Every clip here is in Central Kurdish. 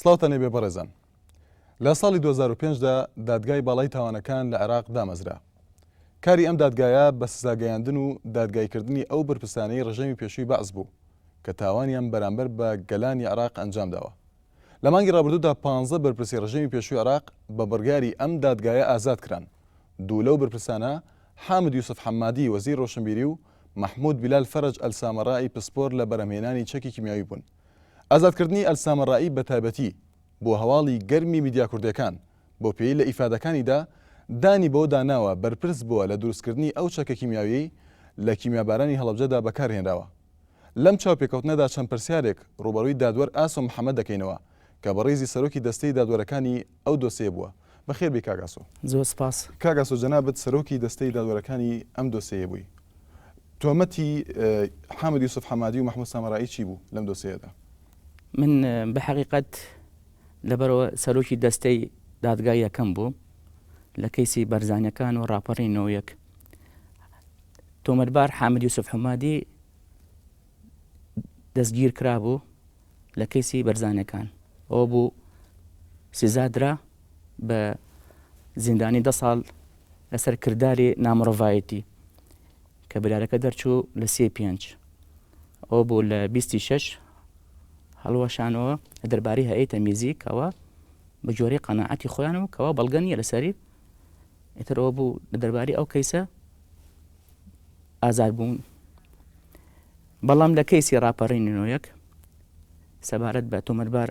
سڵاوتان لێبێ بەڕێزان. لە ساڵی دوو هەزار و پێنج دا دادگای باڵای تاوانەکان لە عێراق دامەزرا. کاری ئەم دادگایە بە سزاگەیاندن و دادگایکردنی ئەو بەرپرسانەی ڕژێمی پێشووی بەعس بوو کە تاوانیان بەرامبەر بە گەلانی عێراق ئەنجامداوە. لە مانگی ڕابردوودا پانزە بەرپرسی ڕژێمی پێشووی عێراق بە بڕیاری ئەم دادگایە ئازاد کران. دوو لەو بەرپرسانە حامد یوسف حەمادی وەزیری ڕۆشنبیری و مەحمود بیلال فەرەج ئەلسامەرائی پسپۆر لە بەرهەمهێنانی چەکی کیمیاوی بوون. ئازادکردنی ئەلسامەرایی بە تایبەتی بووە هەواڵی گەرمی میدیا کوردێکان، بەو پێیەی لە ئیفادەکانیدا دانی بەوە دا ناوە بەرپرس بووە لە دروستکردنی ئەو چەکە کیمیاویەی لە کیمیابارانی هەڵەبجەدا بەکار هێنراوە. لەم چاوپێکەوتنەدا چەند پرسیارێک رووبەڕووی دادوەر ئاسۆ محەمەد دەکەینەوە کە بە ریزی سەرۆکی دەستەی دادوەرەکانی ئەو دۆسێیە بووە. بەخێر بێی کاک ئاسۆ. زۆر سپاس. کاک ئاسۆ جەنابت سەرۆکی دەستەی دادوەرەکانی ئەم دۆسێیە بووی. تۆمەتی حامد یوسف حەمادی و مەحمود سامەرایی چی بوو لەم دۆسێیەدا؟ من بە حەقیقەت لەبەرەوە سەرۆکی دەستەی دادگای یەکەم بووم لە کەیسی بەرزانیەکان و ڕاپەڕینی نۆ یەک. تۆمەتبار حامد یوسف حەمادی، دەستگیرکرابوو لە کەیسی بەرزانیەکان ئەوە بوو سزادرا بە زیندانی دە ساڵ لەسەر کرداری نامڕڤایەتی کە برارەکە دەرچوو لە سێ پێنج ئەو بوو لە بیستی شەش هەڵوەشانەوە دەرباری هەیە تەمیزی کەەوە بە جۆری قەنەعەتی خۆیان و کەەوە بەڵگەنیە لەسەری ئیتر ئەوە بوو لە دەرباری ئەو کەیسە ئازاد بوون بەڵام لە کەیسی ڕاپەڕینی نۆیەک سەبارەت بە تۆمەربار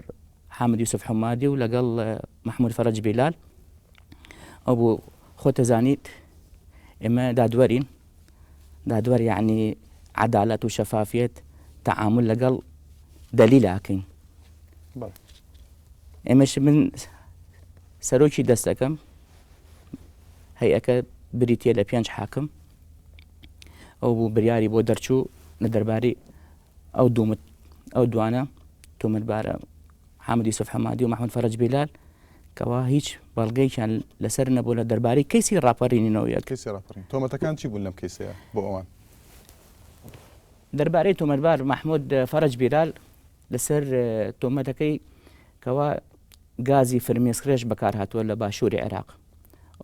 حامد یوسف حمادی و لەگەڵ مححمود فەرج بیلال ئەو بوو خۆتەزانیت ئێمە دادوەرین دادوەر یعنی عدالەت و شەفافیت تعامل لەگەڵ دەلیلاکەین ئێمەش من سەرۆکی دەستەکەم، هەیئەکە بریتییە لە پێنج حاکم، ئەو بوو بریاری بۆ دەرچوو لە دەرباری ئەو دوومت ئەو دوانە تومتبارە حامد یوسف حەمادی و محمد فەرج بیلال کەوا هیچ بەڵگەیان لەسەر نەبوو لە دەربارەی کەیسی ڕاپەڕینینەوەیە کەسی ڕاپەڕین تۆمەتەکان چی بوون لەم کەیسەیە بۆ ئەوان دەربارەی تۆمەتبار مححمود فەرج بیلال لەسەر تۆمەتەکەی کەوا گازی فرمێسکڕێژ بەکارهاتووە لە باشووری عێراق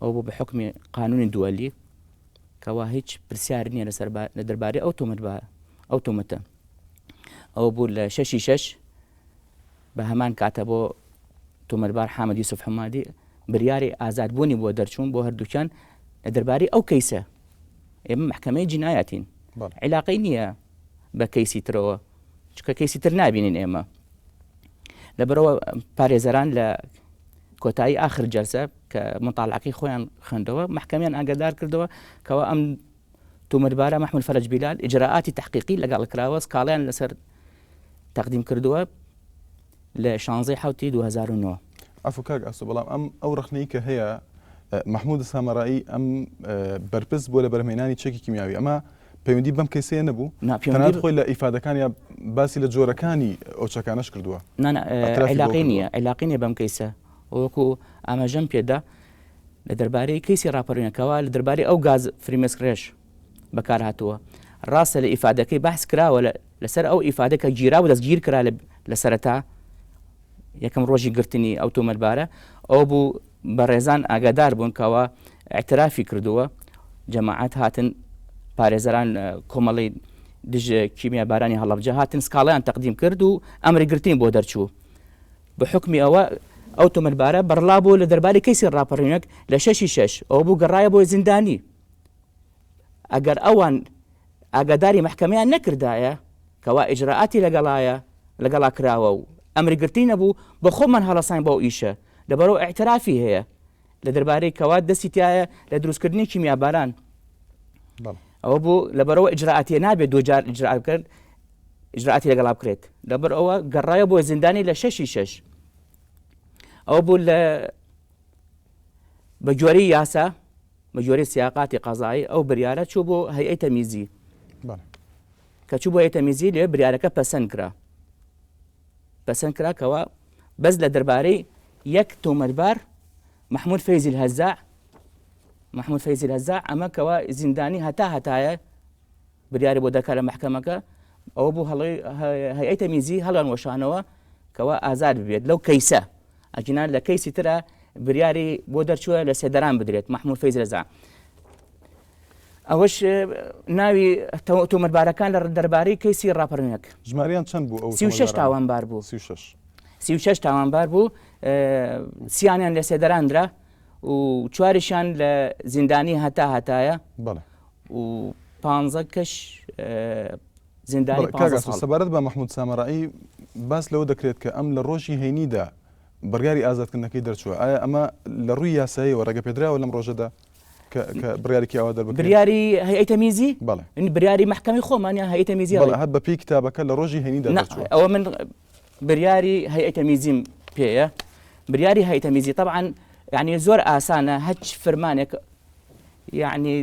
ئەو بۆ بە حکمی قانونی دووەلی کەوا هیچ پرسیار نییە لەسەر لە دەربارەی ئەو تۆمەت بە ئەو تۆمەتە ئەو بوو لە شەشی شەش بە هەمان کاتە بۆ تۆمەربار حامد یوسف حمادی بریاری ئازادبوونی بۆ دەرچوون بۆ هەردووکیان لە دەربارەی ئەو کەیسە ئێمە محکمەی جینایەتین علاقەی نییە بە کەیسی ترەوە چکە کەیسی تر نابینین ئێمە لەبەرەوە پارێزەران لە کۆتایی آخر جەلسە کە مطالعەکەی خۆیان خوێندەوە محکەمیان ئاگادار کردەوە کەەوە ئەم تومەربارە مححمل فەرج بیلال ئجرراعاتی تحقیقی لەگەڵ کراوە سکاڵیان لەسەر تەقدیم کردووە لە شانزەی حوتی 2009 ئەفکاک ئەسو بەڵام ئەم ئەو ڕخنەی کە هەیە مححمود سامەڕایی ئەم بەرپرس بۆ لە بەرمێنانی چەکی کیمیاوی ئەمە پەیوەندی بەم کەیسەیە نەبوو؟ نا پێوەندی تەنانەت خۆی لە ئیفادەکانیا باسی لە جۆرەکانی ئەو چەکانەش کردووە. نا نا اعترافی بەوە عیلاقەی کردووە. نییە عیلاقەی نییە بەم کەیسە و وەکو ئاماژەم پێدا لە دەربارەی کەیسی ڕاپەڕینە کەوا لە دەربارەی ئەو گاز فریمێسک ڕێژ بەکار هاتووە ڕاستە لە ئیفادەکەی بەحس کراوە لە لەسەر ئەو ئیفادە کە گیرا و دەستگیر کرا لە لە سەرەتا یەکەم ڕۆژی گرتنی ئەو تۆمەتبارە ئەوە بوو بەڕێزان ئاگادار بوون کەەوە ئەترافی کردووە جەماعات هاتن پارێزەران کۆمەڵی دژ کیمیا بارانی هەڵبجە هاتن سکاڵیان تەقدیم کرد و ئەمری گرتین بۆ دەرچوو بە حکمی ئەوە ئەو تۆمەتبارە بەڕلا بوو لە دەرباری کەسی ڕاپەڕینەک لە شەشی شەش ئەو بوو گەڕایە بۆی زیندانی ئەگەر ئەوان ئاگاداری مەحکەمەیان نەکردایە کەوا ئیجرائاتی لەگەڵایە لەگەڵا کراوە و ئەمری گرتنی نەبوو، بە خۆمان هەڵەساین بەو ئیشە، لەبەرئەوە ئیعترافی هەیە لە دەربارەی کەوا دەستی تیایە لە دروستکردنی کیمیاباران. ئەوە بوو لەبەرەوە ئیجرائاتیە نابێت دوو جار ئیجرا بکرد ئیجرائاتی لەگەڵا بکرێت لەبەر ئەوە گەڕایە بۆ زیندانی لە شەشی شەش ئەوە بوو لە بە گوێری یاسا بە گوێرەی سیاقاتی قەزایی ئەو بریارە چوو بۆ هەیئەی تەمیزی بەڵێ کە چوو بۆ هەیئەی تەمیزی لێ بریارەکە پەسەند کرا پەسەند کرا کەوا بەس لە دەربارەی یەک تۆمەتبار محمود فەیزی الهەزاع محمود فەیزی الهەزاع ئەمە کەوا زیندانی هەتا هەتایە بریاری بۆ دەرکا لە مەحکەمەکە ئەوە بوو هەڵەی هەیئەی تەمیزی هەڵیان وەشانەوە کەوا ئازاد ببێت لەو کەیسە ئەجینا لە کەیسی ترە بریاری بۆ دەرچووە لە سێدەران بدرێت مححمود فەیز رەزا ئەوەش ناوی تۆمەربارەکان لە دەربارەی کەیسی ڕاپەرنەک ژماریان چەند بوو ئەو سی شش تاوانبار بوو سی شش تاوانبار بوو سیانیان لە سێدەراندرا و چواریشان لە زیندانی هەتا هەتایە بەڵێ و پانزە کەش زیندانی بەڵێ، پانزە کاک ئاسۆ ساڵ سەبارەت بە مەحمود سامەرائی باس لەوە دەکرێت کە ئەم لە ڕۆژی هەینیدا بڕیاری ئازادکردنەکەی دەرچووە ئایا ئەمە لە ڕووی یاساییەوە ڕێگەپێدراوە لەم ڕۆژەدا کە کە بڕیارێکی ئاوا دەربکرێت بریاری هەیئەی تەمیزی بەڵێ بریاری مەحکەمەی خۆمانە هەیئەی تەمیزی بەڵێ هەر بەپێی کتابەکە لە ڕۆژی هەینیدا نا دەرچووە ئەوە من بریاری هەیئەتە میزیم پێیە بریاری هەیئەتە میزی طبعاً یعنی زۆر ئاسانە هەچ فرمانێک یعنی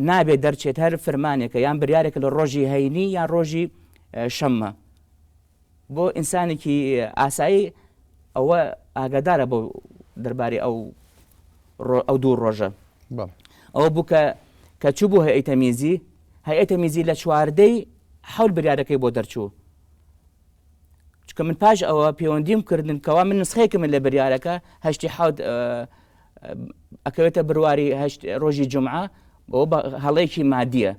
نابێت دەرچێت هەر فرمانێکە یان بریارێکە لە ڕۆژی هەینی یان ڕۆژی شەممە بۆ ئینسانێکی ئاسایی ئەوە ئاگادارە بۆ دەربارەی ئەو ئەو دوو ڕۆژە ئەوە بوو کە کە چوو بوو هەیئەتە میزی هەیئەتە میزی لە چواردەی حول بریارەکەی بۆ دەرچوو چونکە من پاش ئەوە پەیوەندیم کردن کەوا من نسخەیەکم لە بریارەکە هەشتی حوت ئەکەوێتە برواری هەشت ڕۆژی جمعە بۆ هەڵەیەکی مادیە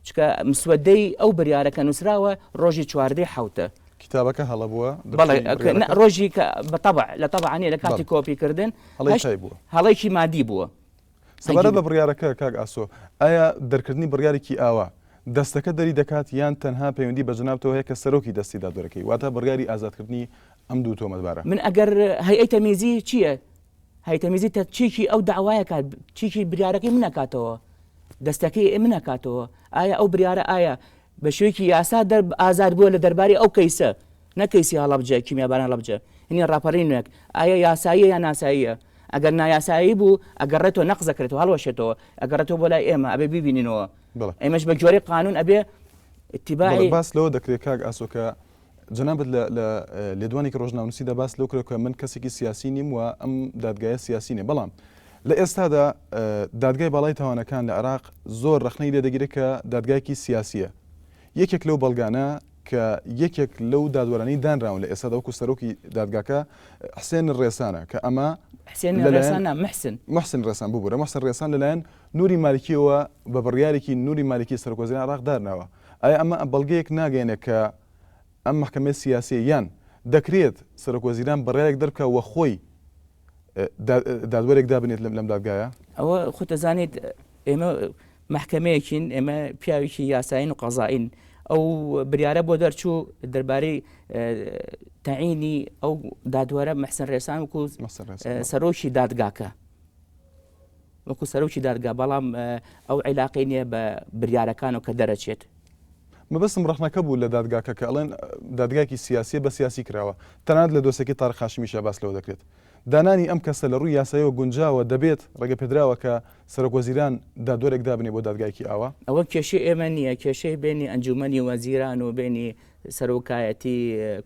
چکە مسوەدەی ئەو بریارەکە نووسراوە ڕۆژی چواردەی حوتە کتابەکە هەڵە بووە ڕۆژی بە لە تەبعانی لە کاتی کۆپی کردن هەڵەی مادی بووە سەبارەت بە بڕیارەکە کاک ئاسۆ، ئایا دەرکردنی بڕیارێکی ئاوا، دەستەکە دەری دەکات یان تەنها پەیوەندی بە جەنابتەوە هەیە کە سەرۆکی دەستی دادوەرەکەی، واتە بڕیاری ئازادکردنی ئەم دوو تۆمەتبارە؟ من ئەگەر هەیئەی تەمیزی چییە؟ هەیئەی تەمیزی تە چیکی ئەو دەعوایە کات، چیکی بریارەکەی من ئەکاتەوە، دەستەکەی من ئەکاتەوە، ئایا ئەو بریارە ئایا بە شێوەیەکی یاسا دەر ئازاد بووە لە دەربارەی ئەو کەیسە، نەک کەیسی هەڵەبجە، کیمیاباران هەڵەبجە، هینی ڕاپەڕینێک، ئایا یاساییە یان ناساییە؟ ئەگەر نایاسایی بوو ئەگەڕێتەوە نەقزەکرێتەوە هەڵوەشێتەوە ئەگەڕێتەوە بۆ لای ئێمە ئەبێ بیبینینەوە ئێمەش بە گوێرەی قانون ئەبێ اتباعی باس لەوە دەکرێت کاک ئاسۆکە جنابەت لە لێدوانێکی ڕۆژناونوسیدا باس لەو کرێکە من کەسێکی سیاسی نیم و ئەم دادگایە سیاسی نیە بەڵام لە ئێستادا دادگای باڵای تاوانەکان لە عراق زۆر ڕخنەی لێدەگیرێت کە دادگایکی سیاسیە یەکێک لەو بەڵگانە کە یەکێک لەو دادوەرانەی دانراون لە ئێستادا وەکو سەرۆکی دادگاکە حسێن ڕێسانە کە ئەمە حسێن ڕێسان محسن محسن ڕێسان ببوورە محسن ڕێسان لەلایەن نوری مالکیەوە بە بڕیارێکی نوری مالکی سەرۆکۆزیران عراق دارناوە ئایا ئەمە بەڵگەیەک ناگەێنێ کە ئەم محکمە سیاسی یان دەکرێت سەرۆکۆزیران بڕیارێک دەرکە وە خۆی دادوەرێک دابنێت لەم لەم دادگایە؟ ئەوە خۆت دەزانیت ئێمە محکەمەیەکین ئێمە پیاوێکی یاسایین و قەزایین ئەو بریارە بۆ دەرچوو دەربارەی تەعینی ئەو دادوەرە مەحسن ڕێسان وکو سەرۆکی دادگاکە وەکو سەرۆکی دادگا بەڵام ئەو عیلاقەی نیە بە بریارەکانەوە کە دەرەچێت. مەبەستم ڕەخنەکە بوو لە دادگاکە کە ئەڵێن دادگایەکی سیاسیە بە سیاسی کراوە تەنانەت لە دۆسێکەی تارق هاشمیشا باس لەوە دەکرێت دانانی ئەم کەسە لە ڕووی یاسایەوە گونجاوە دەبێت ڕێگەپێدراوە کە سەرۆک وەزیران دادوەرێک دابنێ بۆ دادگایەکی ئاوا؟ ئەوە کێشەی ئێمە نیە کێشەی بینی ئەنجومەنی وەزیران و بینی سەرۆکایەتی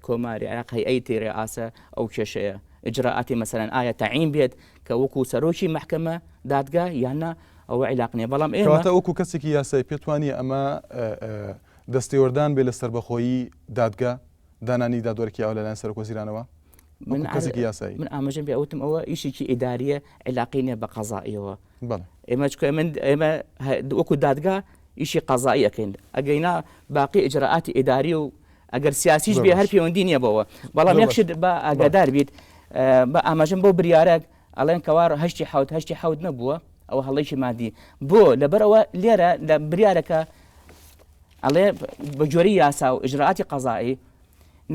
کۆماری عێراق هەیئەیتی رئاسە ئەو کێشەیە ئیجرائاتی مەسەلەن ئایا تەعین بێت کە وەکو سەرۆکی مەحکەمە، دادگا، یان نا ئەوە عیلاق نیە بەڵام ئێمە. کەواتە وەکو کەسێکی یاسایی پێت وانیە ئەمە دەستێوەردان بێ لە سەربەخۆیی دادگا، دانانی دادوەرێکی ئاوا لەلایەن سەرۆک وەزیرانەوە؟ من کەسێکی یاسایی. من ئاماژەم پێ ئەوتم ئەوە ئیشێکی ئیداریە عیلاقی نیە بە قەزائیەوە. بەڵێ. ئێمە چکە ئێمە ئێمە وەکو دادگا ئیشی قەزایی ئەکەین ئەگەینا باقی ئیجرائاتی ئیداری و ئەگەر سیاسیش بێ هەر پێوەندی نییە بەوە. بەڵام یەک شت با ئاگادار بیت، با ئاماژەم بەو بریارە، ئەڵێن کەوا هەشتی حەوت، هەشتی حەوت نەبووە، ئەوە هەڵەیەکی مادی. بۆ؟ لەبەر ئەوە لێرە لە بریارەکە ئەڵێ بە گوێرەی یاسا و ئیجرائاتی قەزائی،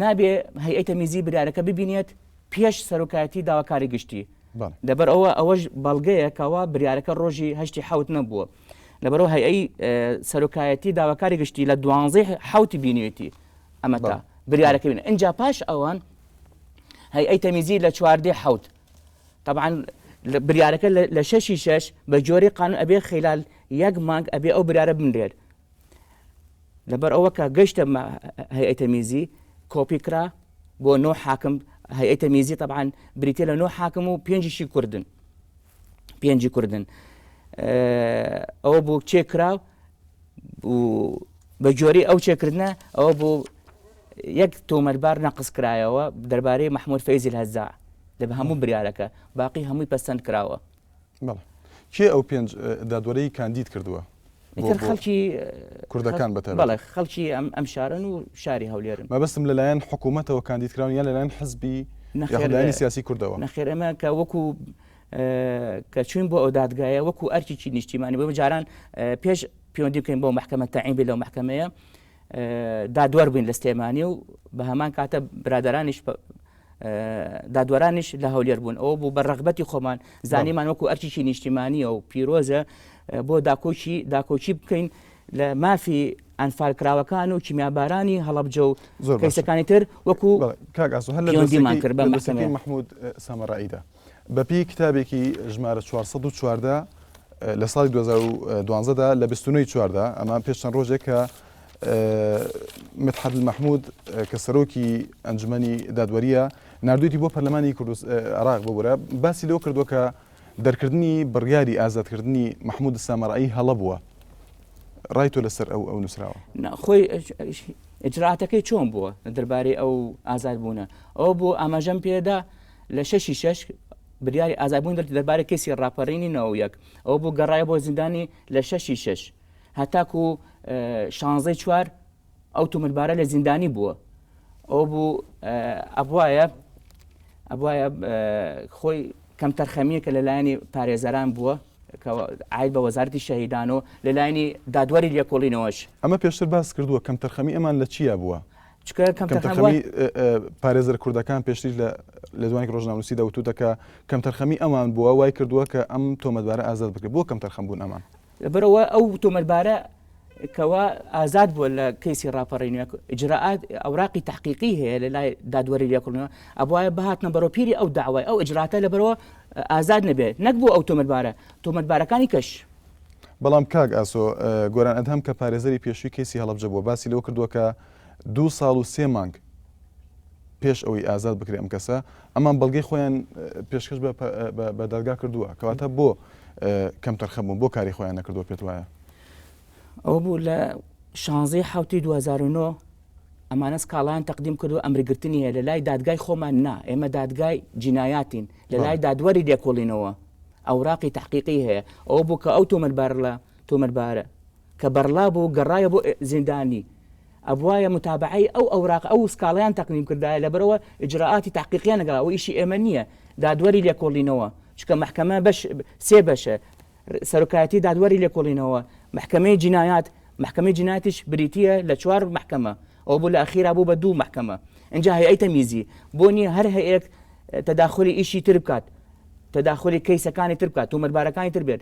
نابێ هەیئەی تەمیزی بریارەکە ببینێت پێش سەرۆکایەتیی داواکاری گشتی. لەبەر ئەوە ئەوەش بەڵگەیە کەوا بریارەکە ڕۆژی هەشتی حەوت نەبووە. لەبەرو هەیئەی سەرۆکایەتی داواکاری گشتی لە دوانزەی حوتی بینێتی ئەمە تا بریارەکە بین ئەجا پاش ئەوان هەیئەی تەمیزی لە چواردەی حوت طبعا بریارەکە لە شەشی شەش بە جۆری قانون ئەبێ خلال یەک مانگ ئەبێ ئەو برارە بنرێت لەبەر ئەوە کە گەشتە هەیئەی تەمیزی کۆپی کرا بۆ نۆ حاکم هەیئەی تەمیزی طبعا بریتە لە نۆ حاکم و پێنجشی کوردن پێنجی کوردن ئەوە بوو چێ کرا بە جۆری ئەو چێکردە ئەوە بوو یەک تۆمەربار نەقص کرایەوە دەربارەی مححمود فەیزل هەزا لە بە هەموو بریارەکە باقی هەمووی پەسەند کراوە کێ ئەو پێنج دادوەرەی کاندید کردووە ئیتر خەڵکی کوردەکان بە تایبەت. بەڵێ خەڵکی ئەم ئەم شارەن و شاری هەولێرن. مەبەستم لەلایەن حکوومەتەوە کاندید کراون یان لەلایەن حزبی یاخود لایەنی سیاسی کوردەوە؟ نەخێر ئێمە کە وەکو کە چووین بۆ ئەو دادگایە وەکو ئەرکێکی نیشتیمانی بۆ جاران پێش پەیوەندی بکەین بۆ محکمە تەعین بێ لەو محکمەیە دادوەر بووین لە سلێمانی و بە هەمان کاتە برادەرانیش دادوەرانیش لە هەولێر بوون ئەوە بوو بە ڕغبەتی خۆمان زانیمان وەکو ئەرچیی نیشتیمانیە و پیرۆزە بۆ داکۆکی داکۆکی بکەین لە مافی ئەنفال کراوەکان و کیمیابارانی هەڵبجە و کەسەکانی تر وەکو کاگاز هەلدیمان کرد بە محمود سەمەڕعیدا بەپێی کتابێکی ژمارە 414 لە ساڵی 2012 دا لە 29 چواردا ئەمە پێش چەند ڕۆژێک کە متحد مححمود کە سەرۆکی ئەنجومی دادوەریە نردویتی بۆ پەرلەمانی کوردس عراق ببورە باسی لەو کردو کە دەرکردنی بڕیاری ئازادکردنی مححمود سامەڕایی هەڵە بووە ڕای تۆ لەسەر ئەو ئەو نووسراوە خۆی ئجراتەکەی چۆن بووە دەربارەی ئەو ئازاد بوونە ئەو بۆ ئاماژەم پێدا لە شەش ی شەش بریاری ئازادبوونی دەرچوو دەربارەی کەیسی ڕاپەرینی نۆ و یەک ئەوە بوو گەڕایە بۆ زیندانی لە شەش ی شەش هەتاکو شانزەی چوار ئەو تومربارە لە زیندانی بووە ئەو بوو ئەبواە ئەبواە خۆی کەمتەرخەمیە کە لەلایەنی پارێزەران بووە ئاید بە وەزارتی شەهیدان و لەلایەنی دادوەری لێکۆڵینەوەش ئەمە پێشتر باس کردووە کەمتەرخەمی ئەمان لە چیا بووە چکە کەم تەخەمی پارێزەر کوردەکان پێشتر لە لەدوانی ڕۆژناموسی دەوتوتەکە کەم تەرخەمی ئەمان بووە وای کردووە کە ئەم تۆمەتبارە ئازاد بکە بۆ کەم تەرخەم بوون ئەمان لەبەرەوە ئەو تۆمەتبارە کەوا ئازاد بووە لە کەیسی ڕاپەڕین ئجرراعات ئەوراقی تحقیقی هەیە لە لای دادوەری لەکردنەوە ئەبواە بهاتنە بەرۆپیری ئەو داوای ئەو ئجراتە لە بەرەوە ئازاد نەبێت نەک بوو ئەو تۆمەتبارە تۆمەتبارەکانی کەش بەڵام کاک ئاسۆ گۆران ئەدهەم کە پارێزەری پێشوی کەسی هەڵبجە بووە باسی لەوە کردووە کە دوو ساڵ و سێ مانگ پێش ئەوەی ئازاد بکرێ ئەم کەسە ئەمان بەڵگەی خۆیان پێشکەش بە دەرگا کردووە کەواتە بۆ کەم تەرخەبوون بۆ کاری خۆیان نەکردووە پێت وایە ئەوە بوو لە شانزی حوتی 2009 ئەمانە سکاڵیان تەقدیم کردو ئەمرگرتنی هەیە لە لای دادگای خۆمان نا ئێمە دادگای جینایاتین لە لای دادوەری لێکۆڵینەوە ئەوراقی تحقیقی هەیە ئەو بوو کە ئەو تۆمەلبار لە تۆمەتبارە کە بەرڵا بوو گەڕایە بۆ زیندانی ئەبوایە متابەعەی ئەو ئەوراق ئەو سکاڵەیان تەقدیم کردایە لەبەرئەوە ئیجرائاتی تەحقیقیان نەکرا ئەوە ئیشی ئێمە نییە دادوەری لێکۆڵینەوە چونکە مەحکەمە بەش سێ بەشە سەرۆکایەتی دادوەری لێکۆڵینەوە مەحکەمەی جینایات مەحکەمەی جینایاتیش بریتییە لە چوار مەحکەمە ئەو بوو لە ئەخیرا بوو بە دوو مەحکەمە ئینجا هەیئەی تەمیزی بۆ نییە هەر هەیەک تەداخولی ئیشی تر بکات تەداخولی کەیسەکانی تر بکات تۆمەتبارەکانی تر بێت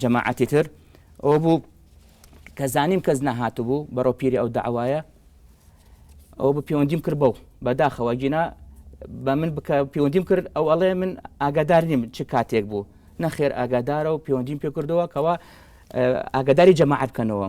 جەماعەتی تر ئەوە بوو کە زانیم کەس نەهاتبوو بەرەو پیری ئەو داوایە ئەو بە پەیوەندیم کرد بەو بەداخەوە گینا بە من بکە پەیوەندیم کرد ئەو ئەڵێ من ئاگادار نیم چ کاتێک بوو نەخێر ئاگادارە و پەیوەندیم پێ کردەوە کەەوە ئاگاداری جەماعات بکەنەوە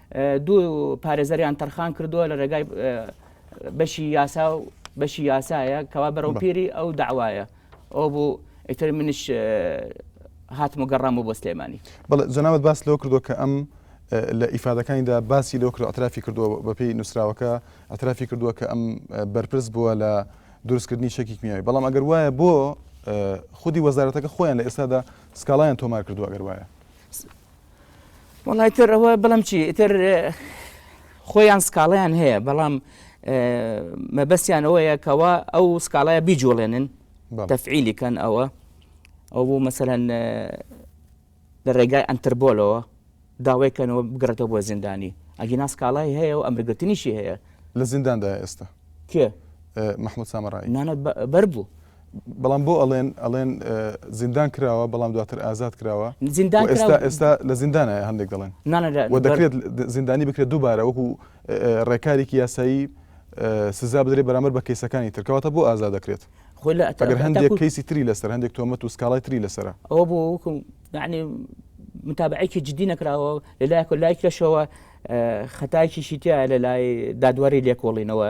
دوو پارێزەریان تەرخان کردووە لە ڕێگای بەشی یاسا و بەشی یاسایە کەوا بەرەو پیری ئەو داوایە ئەو بوو ئیتر منش هاتم و گەڕام و بۆ سلێمانی بڵێ جەناوت باس لەوە کردو کە ئەم لە ئیفادەکانیدا باسی لەو کرد ئەترافی کردووە بەپی نووسراوەکە ئەترافی کردووە کە ئەم بەرپرس بووە لە دروستکردنی شەکی کیمیاوی بەڵام ئەگەر وایە بۆ خودی وەزارەتەکە خۆیان لە ئێستادا سکاڵیان تۆمار کردو ئەگەر وایە وڵی تر ئەوە بڵم چی ئیتر خۆیان سکاڵیان هەیە بەڵام مەبەستیان ئەوەیە کەەوە ئەو سکاڵایە بیجوڵێنن تەفعیلی کەن ئەوە ئەو بوو مەسەەن لە ڕێگای ئەتربۆلەوە داوای کەنەوە بگرێتەوە بۆ زیندانی ئەگی ناسکاڵای هەیە و ئەمرگرتنیشی هەیە لە زینداندا ئێستا کێ مححمود سامەڕای نانە بەر بوو بەڵام بۆ ئەڵێن ئەڵێن زیندان کراوە بەڵام دواتر ئازاد کراوە زیندان ئێستا ئێستا لە زیندانە هەندێک دەڵێن وە دەکرێت زیندانی بکرێت دووبارە وەکو ڕێکارێکی یاسایی سزا بدرێت بەرامەر بە کەیسەکانی ترکەواتە بۆ ئازاد دەکرێت خۆی لە ئەتەگەر هەندێک کەیسی تری لەسەر هەندێک تۆمەت و سکاڵای تری لەسرە ئەوە بۆ وەکم یعنی متابعێکی جددی نەکراوە لە لایەکە لای کەشەوە خەتاکیشی تیا لە لای دادوەری لێکۆڵینەوە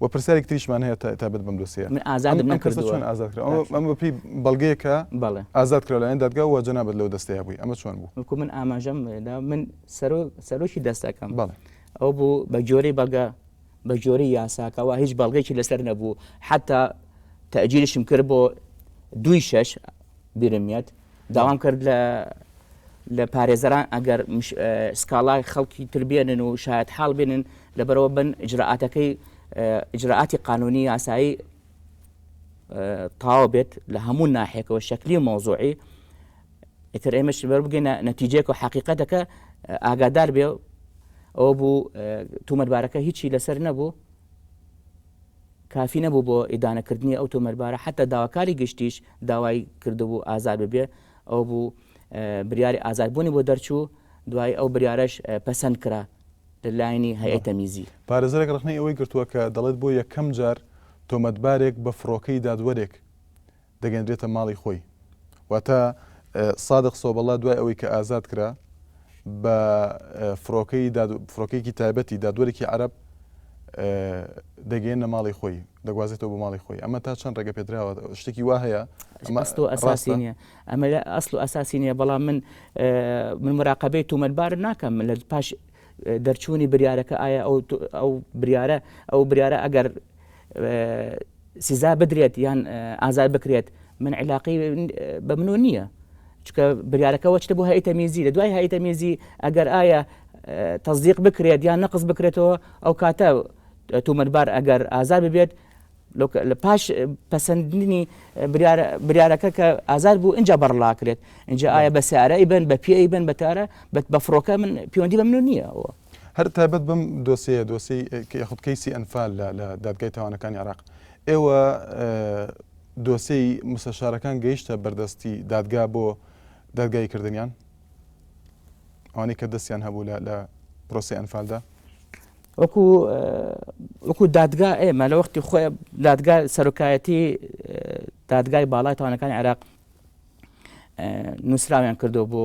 وە پرسیارێکی تریشمان هەیە تا تایبەت بەم دۆسیەیە. من ئازادم ئەم کەسە نەکردووە. چۆن ئازاد کرا؟ باشە. ئەمە بەپێی بەڵگەیەکە بەڵێ. ئازاد کرا لەلایەن دادگا و جەنابت لەو دەستەیە بووی ئەمە چۆن بوو؟ وەکو من ئاماژەم دا من سەرۆ سەرۆکی دەستەکەم بەڵێ. ئەو بوو بە گوێرەی بەڵگە بە گوێرەی یاساکەوە هیچ بەڵگەیەکی لەسەر نەبوو حەتا تەئجیلشم کرد بۆ دووی شەش بیرم یەت. داوام کرد لە لە پارێزەران ئەگەر سکاڵای خەڵکی تر بێنن و شاید حاڵ بێنن لەبەرەوە بن ئجرراعاتەکەی ئجرراعاتی قانونی یاسایی تاوا بێت لە هەموو ناحێکەوە شکلی و مۆزۆعی ئیتر ئێمەش بەر بگەینە نەتیجێک و حقیقەتەکە ئاگادار بێ ئەو بوو تومەتبارەکە هیچی لەسەر نەبوو کافی نەبوو بۆ ئیدانەکردنی ئەو تۆمەربارە حەتا داواکاری گشتیش داوای کردبوو ئازاد ببێ ئەوە بوو بریاری ئازادبوونی بۆ دەرچوو دوای ئەو بریارەش پەسەند کرا لە لایەنی هەیئەی تەمیزی. پارێزەرێک ڕەخنەی ئەوەی گرتووە کە دەڵێت بۆ یەکەم جار تۆمەتبارێک بە فڕۆکەی دادوەرێک دەگەنرێتە ماڵی خۆی واتە سادق سۆبەڵا دوای ئەوەی کە ئازاد کرا بە فرۆکەی فرۆکێکی تایبەتی دادوەرێکی عرب دەگەێنە ماڵی خۆی دەگوازێتەوە بۆ ماڵی خۆی ئەمە تا چەند ڕێگە پێدراوە شتێکی وا هەیە ئەمەستۆ ئەساسی نیە ئەمە لە ئەسل و ئەساسی نیە بەڵام من من مراقبەی تومەتبار ناکەم لە پاش دەرچوونی بریارەکە ئایا ئەو بریارە ئەو بریارە ئەگەر سزا بدرێت یان ئازاد بکرێت من علاقی بە منۆ نییە چکە بریارەکەەوە چتە بۆ هەیتە میزی لە دوای هەیتە میزی ئەگەر ئایا تەزیق بکرێت یان نەقز بکرێتەوە ئەو کاتە تومەتبار ئەگەر ئازار ببێت لە پاش پەسەندنی بریارەکە کە ئازار بوو اینجا بەڕلاکرێت اینجا ئایا بە سارە ئیبن بە پێ ئیبن بەتارە بە بە فڕۆکە من پەیوەندی بە منو نییە ئەوە هەر تایبەت بەم دۆسێیە دۆسێی یاخود کەیسی ئەنفال لە لە دادگای تاوانەکانی عراق ئێوە دۆسێی مستەشارەکان گەیشتە بەردەستی دادگا بۆ دادگای کردنیان ئەوانەی کە دەستیان هەبوو لە لە پرۆسی ئەنفالدا وەکو وەکو دادگا ئێمە لە وەختی خۆی دادگا سەرۆکایەتی دادگای باڵای تاوانەکانی عێراق نووسراویان کردو بۆ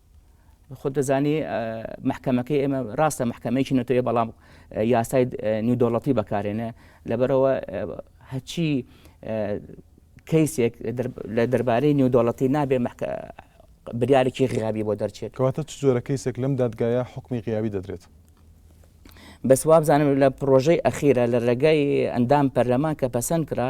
خۆت دەزانی محکەمەکەی ئێمە ڕاستە محکەمەیەکی نەتەوەیە بەڵام یاسای نیودۆڵەتی بەکارێنە لەبەرەوە هەچی کەیسێک لە دەربارەی نیودۆڵەتی نابێ بریارێکی غیابی بۆ دەرچێت کەواتە چ جۆرە کەیسێک لەم دادگایە حکمی غیابی دەدرێت بەسوابزانم لە پرۆژەی ئەخیرە لە ڕێگای ئەندام پەرلەمان کە پەسەند کرا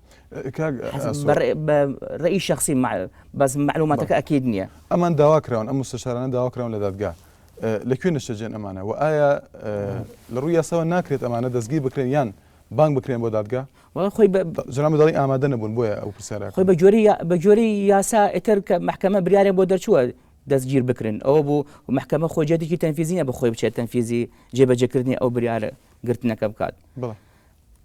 ڕێی شخصی بەس معلوماتەکە ئەکیید نییە ئەمان داواکراون ئەم مستشارانە داواکراون لە دادگا لەکوێ نشتەجێن ئەمانە و ئایا لە ڕووی یاساوە ناکرێت ئەمانە دەستگی بکرێن یان بانگ بکرێن بۆ دادگا خۆی جنام دەڵی ئامادە نەبوون بۆیە ئەو پرسیارە خۆی بە جۆری بە جۆری یاسا ئتر کە محکمە بریارێن بۆ دەرچووە دەستگیر بکرن ئەوە بوو محکمە خۆ جێتێکی تەنفیزیە بە خۆی بچێت تەنفیزی جێبەجێکردنی ئەو بریارە گرتنەکە بکات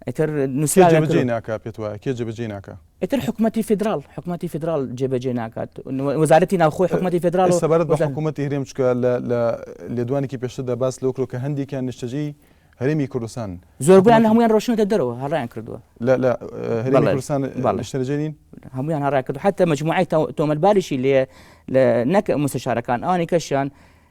ئیتر نووسراوێک کێ جێبەجێی ناکا پێت وایە کێ جێبەجێی ناکا ئیتر حکوومەتی فیدراڵ حکوومەتی فیدراڵ جێبەجێ ناکات وەزارەتی ناوخۆی حکوومەتی فیدراڵ سەبارەت بە حکوومەتی هەرێم چکە لە لێدوانێکی پێشتردا باس لەو کرۆ کە هەندێکیان نیشتەجێی هەرێمی کوردستان زۆربیان هەمویان ڕۆشنەتە دەرەوە هەڕیان کردووە لە لە هەرێمی کوردستان نیشتەجێنین هەمویان هەڕا کردو حتا مجموعی تۆمەتباریشی لێ لە نەک مستشارەکان ئەوانی کەشیان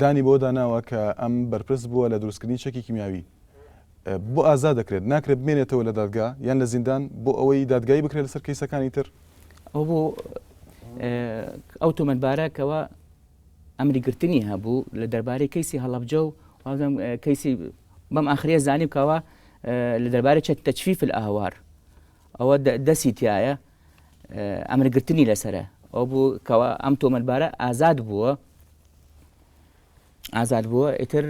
دانی بەوەدا ناوە کە ئەم بەرپرس بووە لە دروستکردنی چەکی کیمیاوی، بۆ ئازاد دەکرێت، ناکرێت بمێنێتەوە لە دادگا یان لە زیندان بۆ ئەوەی دادگایی بکرێت لەسەر کەیسەکانی تر. ئەوە بۆ ئەو تۆمەتبارە کەوا ئەمری گرتنی هەبوو لە دەربارەی کەیسی هەڵەبجە و وازم کەیسی بەم ئاخریە زانیم کەوا لە دەربارەی چەک تەچفیف ئەهوار ئەوە دەسی تایە ئەمر گرتنی لەسەرە ئەو بوو کەوا ئەم تۆمەلبارە ئازاد بووە ئازاد بووە ئیتر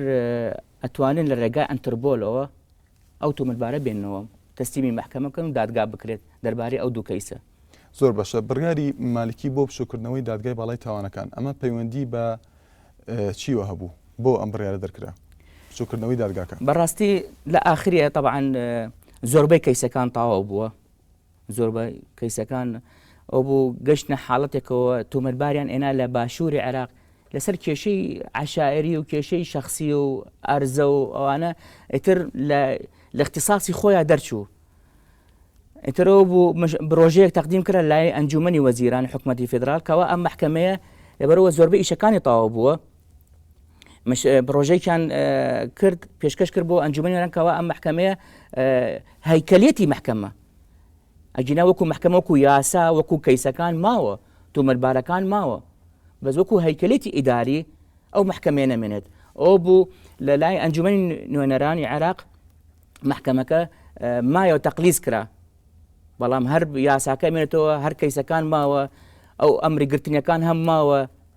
ئەتوانن لە ڕێگای ئەتربۆلەوە ئەو تۆمەلبارە بێنەوە تەسلیمی محکەمەکەن و دادگا بکرێت دەربارەی ئەو دوو کەیسە زۆر بەشە بڕیاری مالکی بۆ بچووکردنەوەی دادگای باڵای تاوانەکان ئەمە پەیوەندی بە چیوە هەبوو بۆ ئەم بڕیارە دەرکرا بچووکردنەوەی دادگاکە بەڕاستی لە ئاخریە طبعاان زۆربەی کەیسەکان تاوا بووە زۆربەی کەیسەکان ئەوبوو گەشتنە حاڵەتێکەوە تۆمەتباریان ئێنا لە باشووری عێراق لەسەر کێشەی عەشایەری و کێشەی شەخسی و ئەرزە و ئەوانە ئیتر لە اختصاصی خۆیان دەرچوو ئیترەوە بوو برۆژەیەک تەقدیم کرا لای ئەنجومنی وەزیران حکوومەتتی فدرال کەەوە ئەم محکمەیە لەبەرەوە زۆربە ئیشەکانی تاوا بووە پڕۆژەیکیان کرد پێشکەش کرد بۆ ئەنجومی نەرەنکەوە ئەم محکمەیە هەیکەلێتی محکمە ئەگینا وەکو محکمە وەکو یاسا وەکو کەیسەکان ماوە تومەربارەکان ماوە بەس وەکو هەیکەلێتی ئیداری ئەو محکمێ نەمێنێت ئەو بوو لە لای ئەنجومی نوێنەرانی عێراق محکمەکە مایە و تەقلیز کرا بەڵام هەر یاساکە مێنێتەوە هەر کەیسەکان ماوە ئەو ئەمری گرتنیەکان هەم ماوە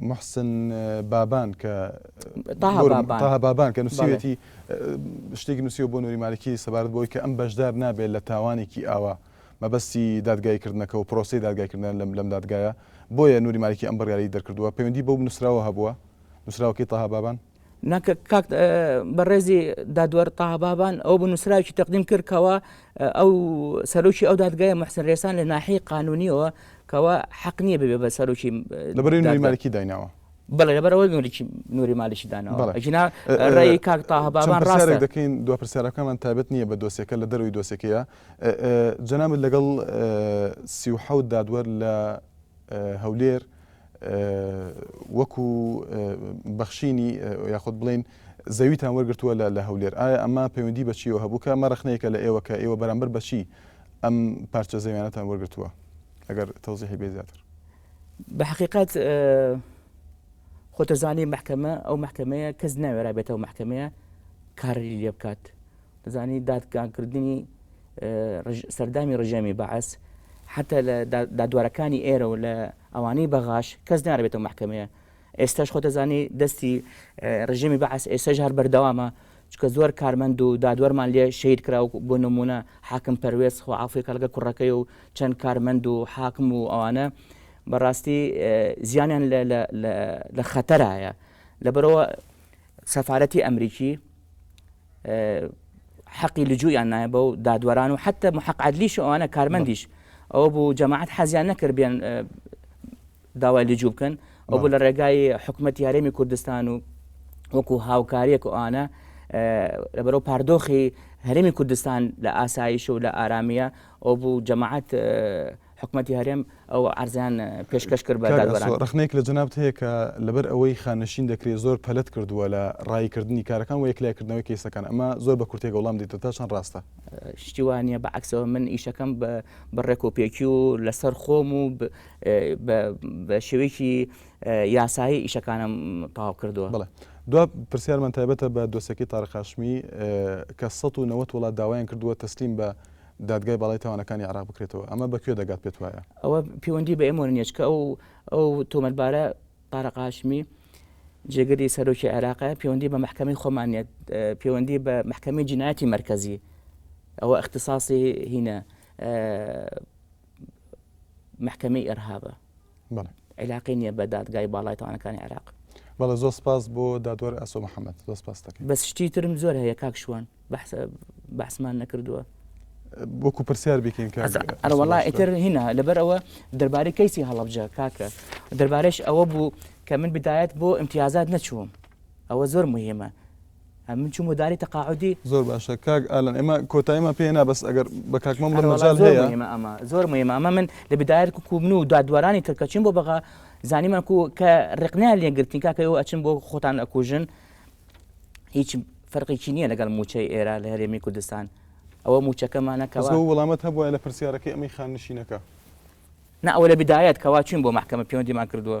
موحسن بابان کە طه بابان طه بابان کە نووسیوێتی شتێکی نووسیوە بۆ نوری مالکی سەبارەت بۆی کە ئەم بەشدار نابێت لە تاوانێکی ئاوا مەبەستی دادگایکردنەکە و پرۆسی دادگایکردن لەم لەم دادگایە بۆیە نوری مالکی ئەم بڕیاری دەرکردووە پەیوەندی بەو نووسراوە هەبووە نووسراوەکەی طه بابان نەک کاک بەڕێزی دادوەر تابابان ئەو بنووسراوی تەقدیم کرد کەەوە ئەو سەرۆکی ئەو دادگای محسن رێسان لە ناحی قانونیەوە کەەوە حەق نییە بێ بە سەرۆکی لەبرێنمالکی دایناوە بەڵێ لەبەرەوەی نوریی نوری مالیشی دانەوە ژنا ڕێی کاک تاهبابان ڕاست دەکەین دو پرسیارەکەمان تابەت نییە بە دۆسێکە لە دەروی دۆسێکەیە جەنابەت لەگەڵ سی و حەوت دادوەر لە هەولێر وەکو بەخشینی یاخود بڵین زەویتان وەرگتووە لە هەولێر ئایا ئەمە پەیوەندی بەچیەوە هەبوو کە ئەمە ڕخنەیەکە لە ئێوە کە ئێوە بەرامبەر بەچی ئەم پارچە زەویانەتان وەرگتووە ئەگەر تەوزیحی بێ زیاتر بە حقیقت خۆتەزانی محکەمە ئەو محکەمەیە کەس ناوێرا بێتەوە محکەمەیە کاری لێ بکات دەزانی دادگاکردنی سەردامی ڕژێمی بەعس حتا لە دادوارەکانی ئێرە و لە ئەوانەی بەغاش کەس ناربێتەوە محکمەیە ئێستاش خۆتەزانی دەستی ڕژێمی بەعس ئێستاش هەر بەردەوامە چکە زۆر کارمەند و دادوەرمان لێ شەید کراو بۆ نمونە حاکم پەروێز خۆ عافی کەڵگە کوڕەکەی و چەند کارمەند و حاکم و ئەوانە بەڕاستی زیانیان لە خەتەرایە لەبەرەوە سەفاەتی ئەمریکی حەقی لجوویان نایە بەو دادوەران و حتى محق عدلیش ئەوانە کارمەندیش ئەوە بوو جەماعات حەزیان نەکرد بێن داوای لجوو بکەن ئەو بوو لە ڕێگای حکوومەت یارێمی کوردستان و وەکو هاوکاریەک ئەوانە لەبەرەو پاردۆخی هەرێمی کوردستان لە ئاسایش و لە ئارامیە ئەو بوو جەماعات حکومەتی هەرێم ئەو عەرزەیان پێشکەش کرد بە دادوەران. کاک ئاسۆ ڕەخنەیەک لە جەنابت هەیە کە لەبەر ئەوەی خانەشین دەکرێت زۆر پەلەت کردووە لە ڕایی کردنی کارەکان وە یەکلای کردنەوەی کەیسەکان ئەمە زۆر بە کورتێک وەڵام دەیتەوە تا چەند ڕاستە؟ شتی وا نییە بە عەکسەوە من ئیشەکەم بە ڕێکوپێکی و لەسەر خۆم و بە شێوەیەکی یاسایی ئیشەکانم تەواو کردووە. بەڵێ دوا پرسیارمان تایبەتە بە دۆسێکەی تاریق هاشمی کە سەد و نەوەد وڵات داوایان کردووە تەسلیم بە دادگای باڵای تاوانەکانی عێراق بکرێتەوە، ئەمە بە کوێ دەگات پێت وایە؟ ئەوە پێوەندی بە ئێمەوە نییە، چونکە ئەو ئەو تۆمەتبارە تارق هاشمی جێگری سەرۆکی عێراقە، پێوەندی بە مەحکەمەی خۆمان نییە، پێوەندی بە مەحکەمەی جینایەتی مەرکەزی ئەوە اختصاصی هینە، مەحکەمەی ئێرهابە عیلاقەی نییە بە دادگای باڵای تاوانەکانی عێراق بەڵە زۆر سپاس بۆ دادوەر ئەسۆ محەممەد زۆر سپاس دەکەن بەس شتی ترم زۆر هەیە کاک شوان بەحسمان نەکردووە وەکو پرسیار بکەین ئەرەوەڵا ئیتر هینا لەبەر ئەوە دەربارەی کەیسی هەڵبجە کاکە دەربارەش ئەوە بوو کە من بدایەت بۆ امتیازات نەچووم ئەوە زۆر مهمە من چوم و داری تەقاعودی. زۆر باشە کاک ئالان ئێمە کۆتاییمان پێ هێنا بەس ئەگەر بە کاک مەمڵە هەر وەڵا مەجال زۆر هەیە مهمە ئەمە زۆر مهمە ئەمە من لە بدایەت کو کو من و دادوەرانی تر کە چوین بۆ بەغا زانیمان کو کە ڕێقنەیان لێ گرتین کاکە ئێوە ئەچن بۆ خۆتان ئەکوژن هیچ فەرقێکی نییە لەگەڵ مووچەی ئێرە لە هەرێمی کوردستان ئەوە مووچەکەمانە بەس کەوا بەو وەڵامت هەبوایە لە پرسیارەکەی ئەمەی خاننشینەکە. نا ئەوە لە بدایەت کەوا چوین بۆ مەحکەمە پێوەندیمان کردووە.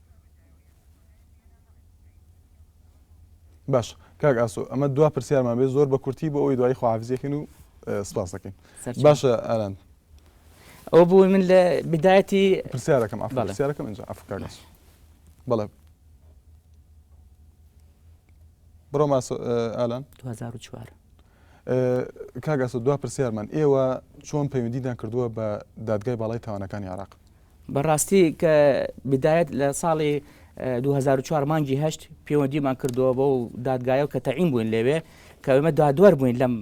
باشە کاک ئاسۆ ئەمە دوا پرسیارمان بێ زۆر بە کورتی بۆ ئەوی دوای خواافزیەکەن و سپاسەکەین باشە ئاران ئەو بوو من لە بدایەتی پرسیارەکەم ئەفسیارەکەم ئەنج ئەفکارش بەڵێ بڕۆ ماسۆ ئالان 2004 کاک ئاسۆ دوا پرسیارمان، ئێوە چۆن پەیوەندیتان کردووە بە دادگای باڵای تاوانەکانی عێراق؟ بە ڕاستی کە بدایەت لە ساڵی دوو هەزار و چوار مانگی هەشت پەیوەندیمان کردووە بەو دادگایە و کە تەعین بووین لەوێ کە ئێمە دادوەر بووین لەم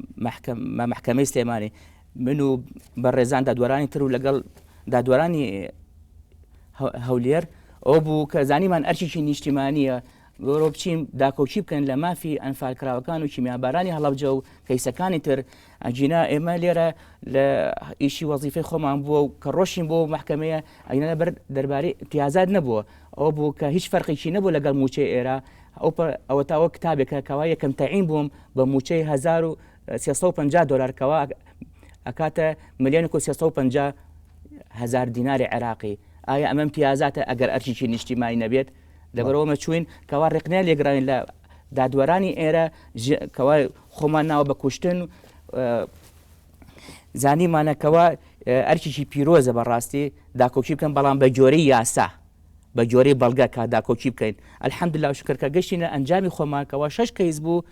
مەحکەمەی سلێمانی من و بەڕێزان دادوەرانی تر و لەگەڵ دادوەرانی هەولێر ئەو بوو کە زانیمان ئەرکێکی نیشتیمانیە بۆرۆ بچین داکۆکی بکەن لە مافی ئەنفالکراوەکان و کیمیابارانی هەڵەبجە و کەیسەکانی تر ئەگینا ئێمە لێرە لە ئیشی وەزیفی خۆمان بووە و کە ڕۆشین بۆ محکمەیە ئەگینا بەر دەربارەی پیازات نەبووە ئەو بوو کە هیچ فەرقێکی نەبوو لەگەڵ موچەی ئێرە ئەو ئەوە تاوە کتابێکە کەوا یەکەم تەعین بووم بە موچەی 1350 دلار کەوا ئەکاتە ملیۆن 350 هزار دیناری عێراقی ئایا ئەمەم پیازاتە ئەگەر ئەرچیی نیشتیمانی نەبێت لەبەرئەوە ئێمە چووین کەوا ڕێکنای لێگراین لە دادوەرانی ئێرە کەوا خۆمان ناوە بە کوشتن زانیمانەکەەوە ئەرکیی پیرۆزە بەڕاستی داکۆکی بکەن بەڵام بە جۆری یاسا بە جۆری بەڵگە کا داکۆکی بکەین ئەلحەمد لا شکرکە گەشتینە ئەنجامی خۆمانکەەوە شش کەیس بوو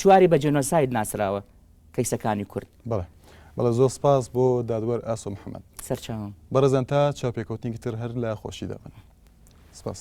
چواری بە جنۆساید ناسراوە کەیسەکانی کورد. بەڵێ بەڵێ زۆر سپاس بۆ دادوەر ئاسۆ محەمەد. سەرچاوم. بەڕێزان تا چاوپێکەوتنێکی تر هەر لە خۆشیدا بن. سپاس.